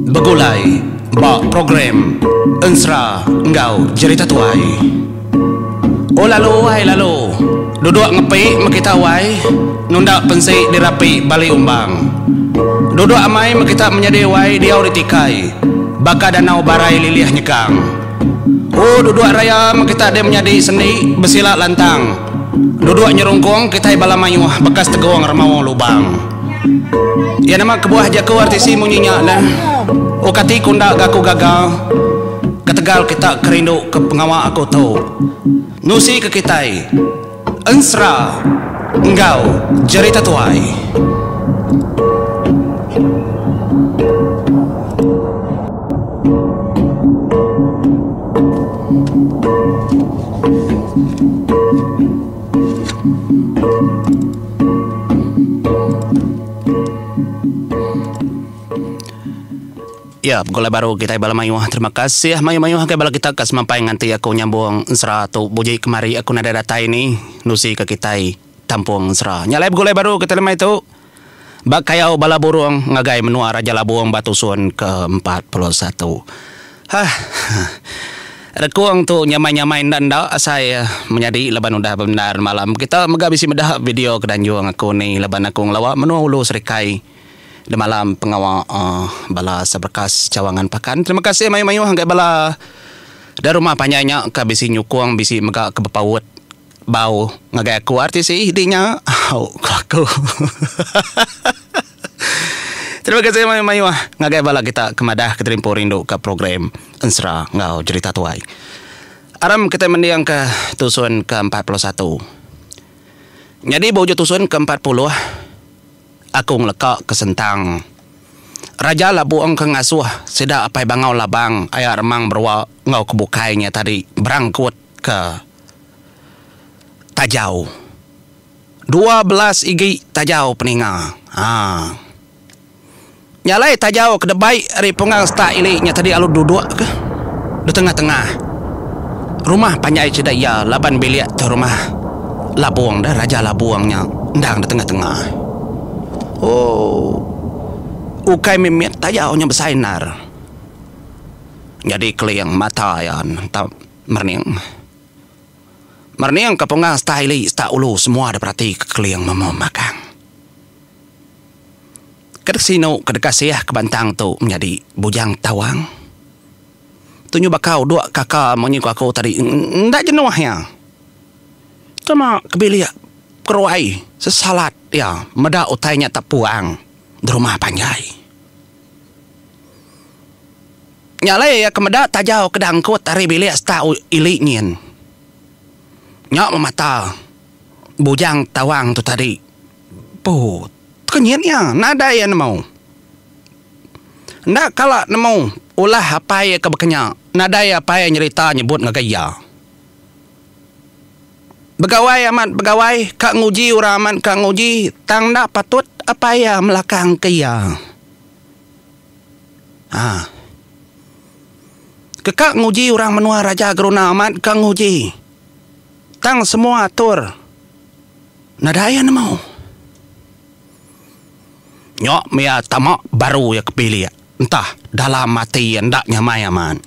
Begulai ba program Ensera enggau Jerita Tuai. Oh lalu ai lalu. Duduk ngepi meh kita wai. Nunda pensi dirapi bali umbang. Duduk amai meh kita menyadi wai diau ditikai baka danau barai lilih nyegang. Oh duduk raya meh kita deh menyadi sendi besila lantang. Duduk nyerungkung kitai bala mayuh bekas tegung remaung lubang. Iya nama kebuah jaku RTC munyi nya lah. Ukati ku enda ga aku gaga. Ketegal kita ke rindu ke pengawa aku tu. Nusi ke kitai. Ensra enggau jerita tuai. Ya, pegulai baru kitai bala mayuh. Terima kasih mayuh-mayuh agai bala kita ke semampai nganti aku nyambung ensera tu buji kemari aku nadai datai ni nusika kitai tampung ensera. Nya alai pegulai baru kitai lemai tu. Ba kayau bala burung ngagai menua Raja Labung ba tusun ke empat puluh satu. Hah. Rekung tu nyamai-nyamai enda enda asai menyadi laban udah bebendar malam. Kita mega bisi meda video ke danjung aku ni laban aku ngelawa menua ulu serikai demalam pengawa bala sebrekas cawangan pakan. Terima kasih mayuh-mayuh ngagai bala da rumah panjai nya ka bisi nyukung bisi mega ke bepaut. Bau ngagai aku artis ih di nya au ku aku. Terima kasih mayuh mayuh ngagai bala kita ke madah ke terimpu rindu ka program Ensera enggau Jerita Tuai. Aram kitai mending ka tusun ke empat puluh satu. Nyadi ba ujung tusun ke empat puluh aku ngeleka ke sentang Raja Labong ke ngasuh sida Apai Bangau Labang aya Remang Berua enggau ke bukai nya tadi Berangkut. ke tajau dua belas igi tajau peninga ha nya alai tajau ke debai ari pungang setak ili nya tadi lalu duduk ke ditengah-tengah rumah panjai sida iya laban bilik tu rumah labung deh raja labung nya endang ditengah-tengah ooh ukai mimit tajau nya besai endar jadi keling mata iya ntau. Merning. Merning ke punga seta ili seta ulu semua da berati ke keling memu magang. Ke dek sinu ke deka siah ke bantang tu menyadi Bujang Tawang. Tunyu Bakau dua kaka munyi ku aku tadi enda jenuh iya. Cuma ke bilik keruai sesalat iya meda utai nya tepuang di rumah panjai. Nya alai iya ke meda taja ke diangkut ari bilik stak ili nyin. Nya memata Bujang Tawang tu tadi. Put. Kenyit iya nadai iya nemu. Enda kala nemu ulah apai iya ke baka nya. Nadai apai iya nyerita nyebut ngagai iya. Begawai amat begawai ka nguji orang amat ka nguji tang enda patut apai iya melakang ke iya. Ha. Ke ka nguji orang menua raja geruna amat ka nguji tang semua atur nadai iya nemu. Nyo mia tama baru iya ke bilik entah dalam ati iya enda nyamai amat.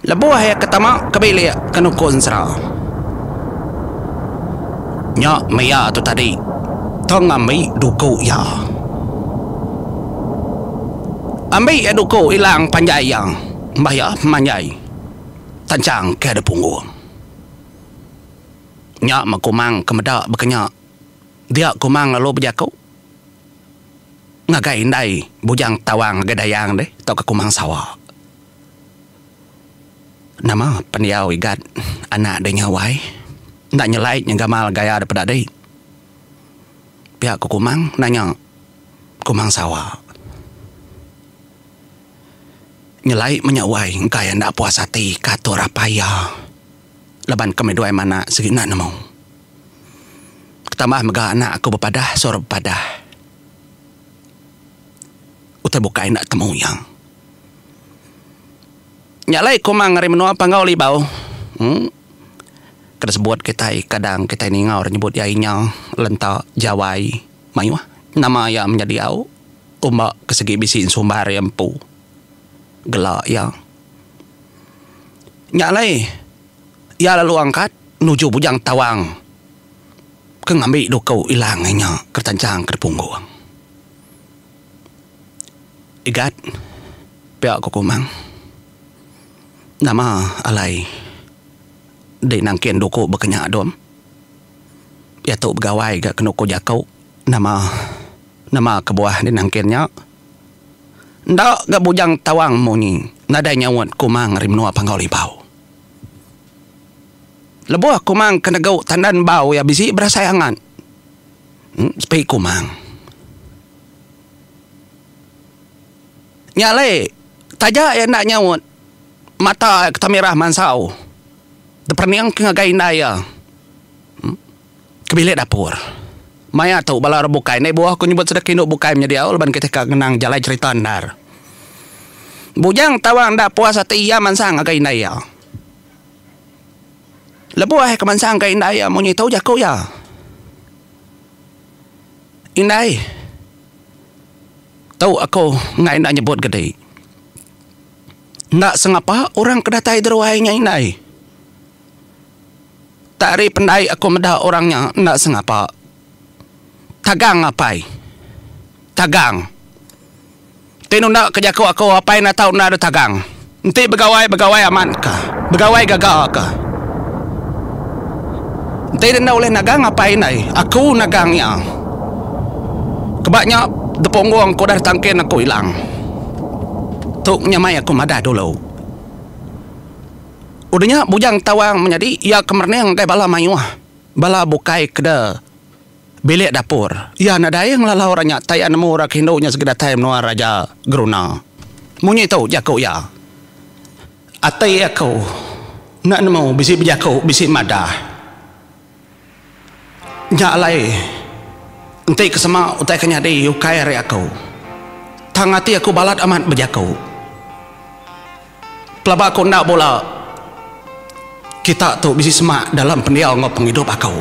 Lebuh iya ke tama ke bilik ke nuku ensera. Nya mia tu tadi tang ambi duku iya. Ambi iya duku ilang panjai iya bah iya manjai tanchang ke ada punggung. Nya meh Kumang ke meda baka nya. Dia Kumang lalu bejaku ngagai indai Bujang Tawang ngagai Dayang deh tauka Kumang Sawa. Nama pendiau Igat anak deh nyawai enda nyelai nyeng gamal gaya deh peda dih. Pia ku Kumang nanya Kumang Sawa. Nyelai menya wai engkai enda puas ati ka tu rapai iya laban ke meduai mena sigi enda nemu. Tambah mega anak aku bepadah suruh bepadah utai bukai enda temu iya. Nya alai komang ari menua Panggau Libau uhh ke disebut kitai kadang kitai ningau ri nyebut iya inya lenta jawai mayuh nama iya menyadi au umba ke segi bisi sumbar iya empu gela iya. Nya alai iya lalu angkat nuju Bujang Tawang ke ngambi duku Ilang inya ke retanchang ke dipunggung. Igat pia ku Kumang. Nama alai dei nangkin duku bekenya dom. Ia tu begawai ga kenuku jaku nama nama kebuah dei nangkin nya. Enda ga bujang tawang munyi nadai nyaut Kumang ari menua Panggau Libau. Lebuh Kumang ke negu tandan bau ia bisi berasai angat. Sepi Kumang. Nya alai, taja iya enda nyaut, mata iya ketemirah mansau teperening ke ngagai indai iya ke bilik dapur. Maya tu bala orang bukai endai buah ku nyebut sedek indu bukai menyadi au laban kitai ka ngenang jalai cherita endar. Bujang Tawang enda puas ati iya mansang ngagai indai iya. Lebuh iya ke mansang ngagai indai iya munyi tu jaku iya. Indai. Tu aku enggai enda nyebut ke dei. Enda sengapa orang ke datai deruai nya indai. Tak ari pendai aku meda orang nya enda sengapa. Tagang apai. Tagang. Enti nunda ke jaku aku apai enda tau enda ada tagang. Enti begawai begawai amat ka. Begawai gaga ka. Enti ida enda ulih nagang apai indai aku nagang iya. Keba nya depunggung ke udah ditangkin aku ilang. Tu nya mai aku madah dulu. Udah nya bujang tawang menyadi iya ke merening ngagai bala mayuh bala bukai keda. bilik dapur. Iya nadai ngelalau orang nya taia nemu orang ke indu nya sigi datai menua Raja Geruna. Munyi tu jaku iya, Ati aku enda nemu bisi bejaku bisi madah. Nya alai enti ke sema utai ke nyadi ukai ari aku. Tang ati aku balat amat bejaku. Pelaba aku enda bula kita tu bisi semak dalam pendiau enggau pengidup aku.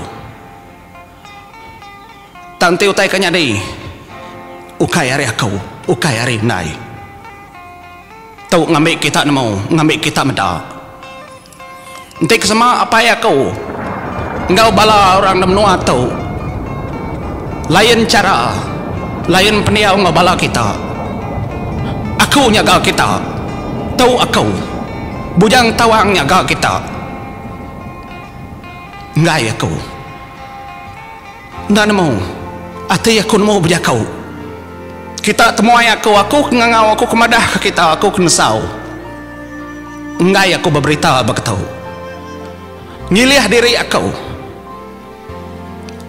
Tang enti utai ke nyadi ukai ari aku, ukai ari indai tu ngambi kita nemu, ngambi kita meda. Enti ke sema apai aku enggau bala orang da menua tu lain chara lain pendiau enggau bala kita aku nyaga kita tu aku bujang tawang nyaga kita enggai aku. Enda nemu. Ati aku nemu bejaku. Kita temuai aku, aku ke ngangau aku ke madah ke kita, aku ke nesau. Enggai aku beberita begetu. Ngilih diri aku.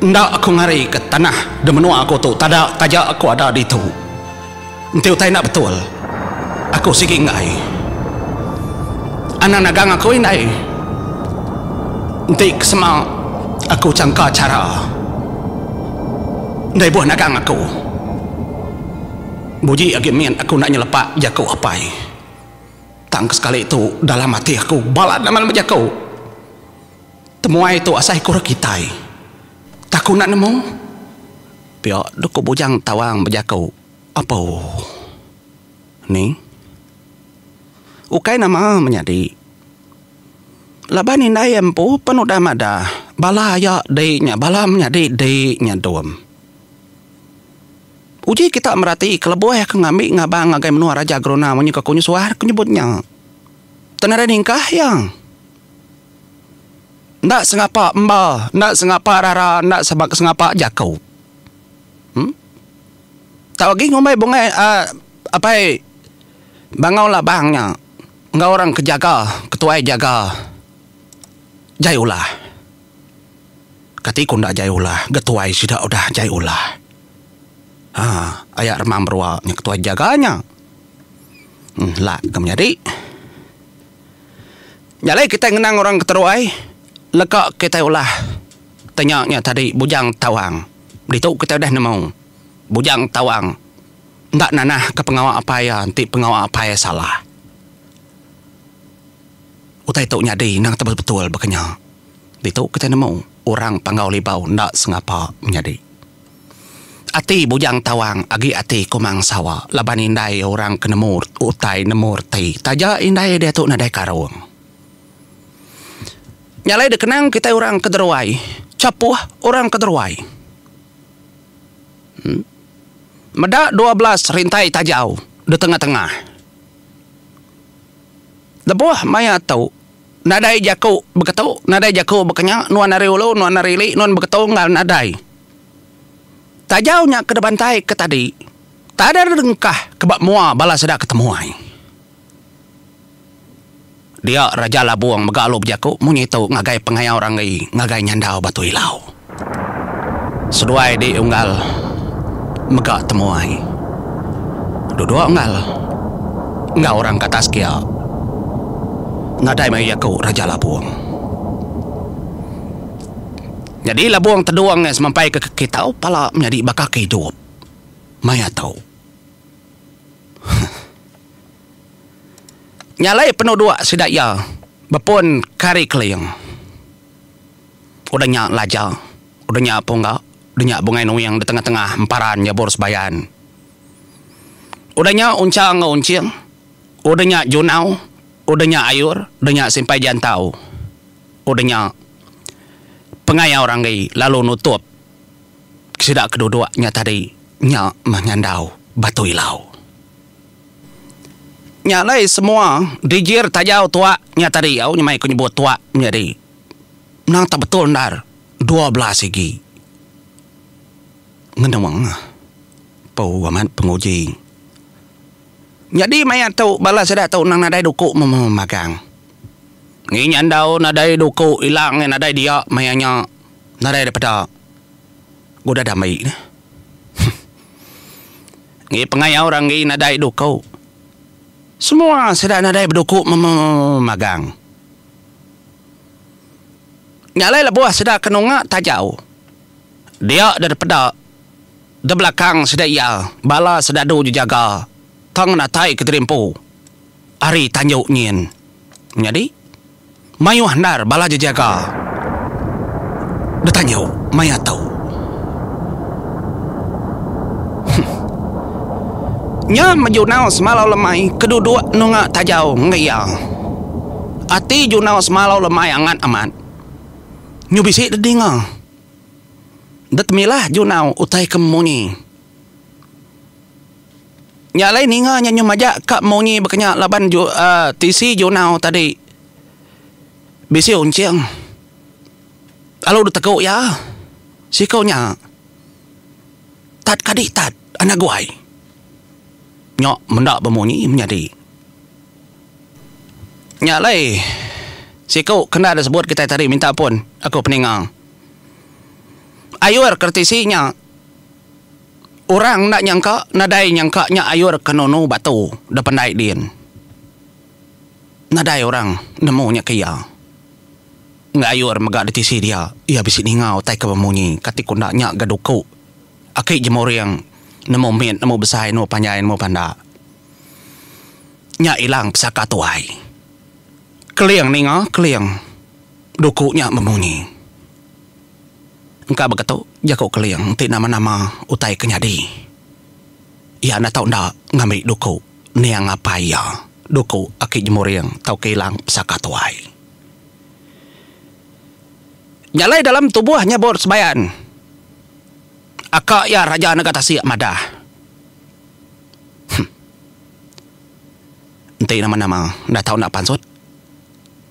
Enda aku ngari ke tanah di menua aku tu tada taja aku ada ditu. Enti utai enda betul, aku sigi enggai. Anang nagang aku indai. Enti ke sema aku changka chara deh ibuh nagang aku. Buji agi mit aku enda nyelepa jaku apai. Tang ke sekali tu dalam ati aku balat nama lema jaku. Temuai tu asai ku orang kitai. Tang aku enda nemu. Pia dok ko bujang tawang bejaku apu ni ukai nama menyadi laban indai empu pen udah madah bala aya di nya bala menyadi di nya dom uji kita merati kelebuh ke ngambi ngabang ngagai menua raja geruna menyuka ko nyusuar ko nyebut nya tengah ningkah iya. Enda sengapa emba, enda sengapa rara, enda sengapa jaku. Em. Tau agi ngumbai bungai a apai Bangau Labang nya enggau orang ke jaga, ke tuai jaga Jai Ulah. Kati ku enda Jai Ulah, ga tuai sida udah Jai Ulah. Ha, aya Remang Berua nya ke tuai jaga nya. Em, lak ke menyadi. Nya alai kitai ngenang orang ke teruai leka kitai ulah te nya nya tadi Bujang Tawang. Ditu kitai udah nemu Bujang Tawang enda nanahka pengawa apai iya enti pengawa apai iya salah. Utai tu nyadi endang tebel betul baka nya. Ditu kitai nemu orang Panggau Libau enda sengapa menyadi. Ati bujang tawang agi ati kumang sawa laban indai orang ke nemu utai nemu reti taja indai diatu nadai karung. Nya alai dikenang kitai orang ke deruai chapuh orang ke deruai. Meda dua belas rintai tajau di tengah-tengah. Lebuh maya tu. Nadai jaku beketu, nadai jaku bekenya, nuan ari ulu, nuan ari ili, nuan beketu enggau nadai. Tajau nya ke dibantai ke tadi, tada dengkah ke ba mua bala sida ke temuai. Dia Raja Labung mega alu bejaku munyi tu ngagai pengayau Ranggi ngagai nyandau Batu Ilau. Seduai di unggal mega temuai. Duduk unggal enggau orang ke atas kia. Nadai meh iya ku Raja Labong. Nyadi Labong Tedong iya semampai ke kaki tau pala menyadi baka ke idup. Maya tu. Huh. Nya alai penuduk sida iya bepun ke ari Keling. Udah nya laja, udah nya pungga, udah nya bungai nuing di tengah-tengah emparan nyebur sebayan. Udah nya uncha enggau unching, udah nya junau, udah nya ayur, udah nya simpai jantau. Udah nya pengayau ranggi lalu nutup ke sida ke duduk nya tadi nya meh nyandau Batu Ilau. Nya alai semua dijir tajau tuak nya tadi au nyemai ku nyebut tuak menyadi. Menang tak betul endar dua bela sigi ngenung empu amat penguji nyadi maya tu bala sida tu nang nadai duku magang ngi nya andau nadai duku ilang iya nadai dia maya nya nadai da peda udah dami dah huh ngi pengayau orang ngi nadai duku semua sida nadai beduku memagang. Nya alai lebuh sida ke nunga tajau dia deda peda de belakang sida iya bala sedadu jejaga tang natai ke terimpu ari tanju nyin. Nyadi mayuh endar bala jejaga de tanju maya tu. Nya mejunau semalau lemai ke duduk nunga tajau enggai iya. Ati Junau semalau lemai angat amat. Nyu bisi dek dinga. Dek temilah Junau utai ke munyi. Nya alai ninga nya nyu majak ka munyi bekenya laban ju uhh tisi Junau tadi bisi unching. Lalu dek tegu iya siko nya tat kadi tat anak guai. Nya menda bemunyi menyadi. Nya alai siku kenda da sebut kitai tadi minta pun aku peninga. Ayur ke reti si nya orang enda nyangka nadai nyangka nya ayur ke nunu batu da pandai din. Nadai orang nemu nya ke iya. Enggai ayur mega da tisi dia iya bisi ninga utai ke bemunyi ka ti ku enda nya ga duku aki jemuring nemu mit nemu besai nemu panjai nemu panda. Nya ilang pesaka tuai. Keling ninga Keling duku nya bemunyi. Engka begetu jaku Keling enti nama-nama utai ke nyadi. Iya enda tau enda ngambi duku niang apai iya, duku aki jemuring tauka ilang pesaka tuai. Nya alai dalam tubuh nyebut sebayan. Aka iya Raja Nega Tasik madah. Hum. Enti nama-nama enda tau enda pansut,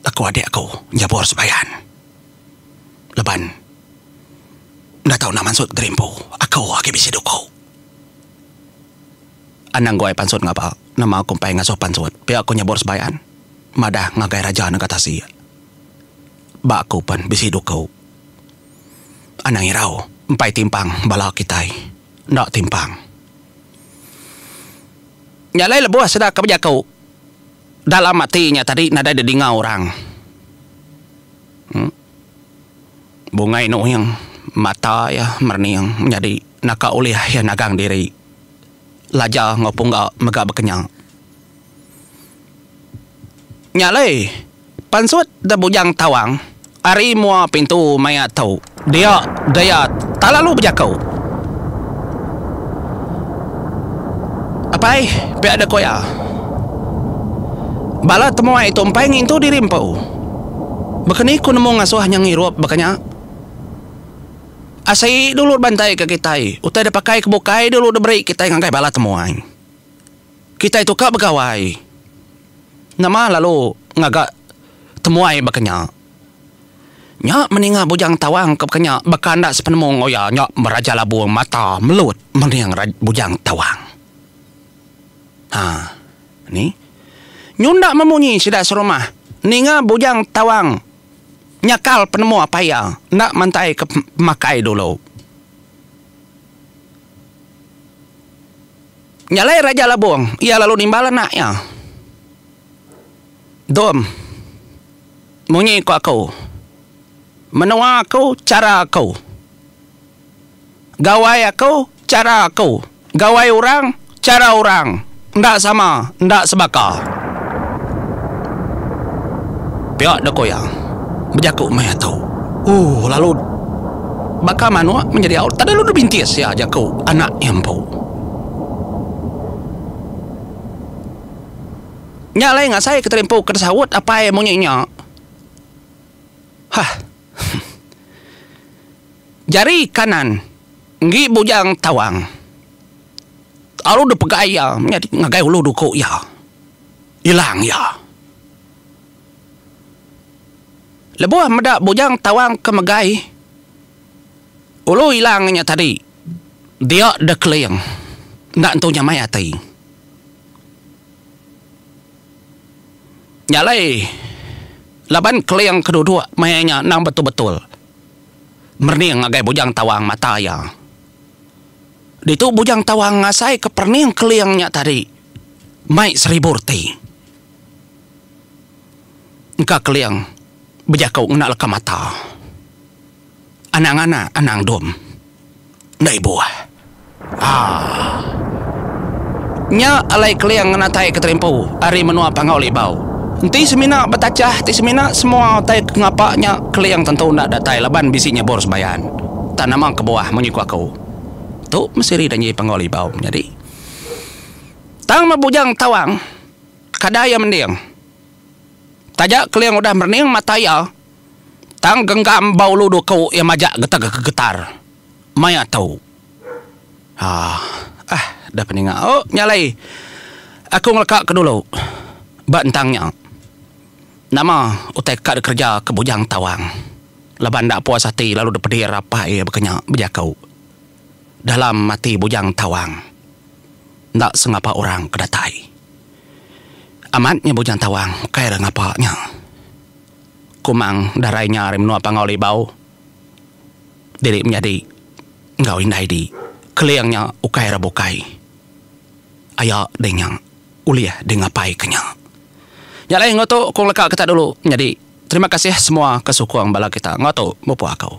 aku adik aku nyabur sembayan. Leban enda tau enda mansut geri empu, aku agi bisi duku. Anang guai pansut ngapa? Nama aku empai ngasuh pansut pia aku nyabur sembayan? Madah ngagai raja nengah tasik. Ba aku pen bisi duku. Anang irau empai timpang bala kitai. enda timpang. Nya alai lebuh sida ke bejaku dalam ati nya tadi nadai didinga orang. Em. Bungai Nuing mata iya merening menyadi naka ulih iya nagang diri Laja enggau Pungga mega bekenya. Nya alai. Pansut da bujang tawang. Ari mua pintu maya tu. Dia daya talalu bejako. Apai pia da koya. Bala temuai tu empai ngintu diri empu. Baka ni ku nemu ngasuh nya ngirup baka nya. Asi dulu da bantai ka kitai. Utai da pakai ke bukai dulu da beri kitai ngagai bala temuai. Kitai tu ka begawai. Nama lalu ngaga temuai baka nya? Nya meninga Bujang Tawang ke baka nya baka enda sepenemu enggau iya nya Raja Labung mata melut mening Bujang Tawang. Ha ni. Nyunda memunyi sida serumah ninga Bujang Tawang nyakal penemu apai iya enda mantaika pemakai dulu. Nya alai Raja Labong iya lalu nimbal anak iya. Dom, munyi ko aku. Menua aku chara aku. Gawai aku chara aku. Gawai orang chara orang. Enda sama, enda sebaka. Pia deh ko iya. Bejaku meh iya tu. Ooh lalu baka manuk menjadi aut. Tadelu dibintis iya jaku anak iya empu. Nya alai ngasai ke terimpu ke tesaut apai munyi nya. Hah. Jari kanan enggi bujang tawang lalu dipegai iya nyadi ngagai ulu duku iya. Ilang iya. Lebuh meda bujang tawang ke megai. Ulu ilang nya tadi dia deh keling enda entu nyamai ati. Nya alai laban keling ke duduk maya nya endang betul-betul merening ngagai Bujang Tawang mata iya. Ditu Bujang Tawang ngasaika perening keling nya tadi mai seribu reti. engka keling bejaku ngena leka mata. Anang anak anang dom enda ibuh. Haa. Nya alai keling ngenatai keterimpu ari menua Panggau Libau. Enti semina betachah ti semina semua utai ke ngapa nya keling tentu enda datai laban bisi nyebor sembayan. Tang nama kebuah munyi ku aku. Tu mesti ri janji Panggau Libau menyadi. Tang meh bujang tawang kada iya mending. Taja Keling udah merening mata iya, tang genggam ba ulu duku iya majak getar-getar. Maya tu. Aah. Ah, deh peninga. O, nya alai. Aku ngeleka ke dulu. Ba entang nya. Nama utai ka dek kereja ke Bujang Tawang. Laban enda puas ati lalu dek pedir apai iya baka nya, bejaku. dalam ati Bujang Tawang enda sengapa orang ke datai. Amat nya Bujang Tawang ukai ra ngapa nya. Kumang darai nya ari menua Pangau Libau diri menyadi enggau indai di Keling nya ukai ra bukai. Aya dei nya ulih di ngapai ke nya. Nya alai enggau tu ku ngeleka kita dulu nyadi. Terima kasih semua ke sukung bala kita enggau tu, Mupuk aku.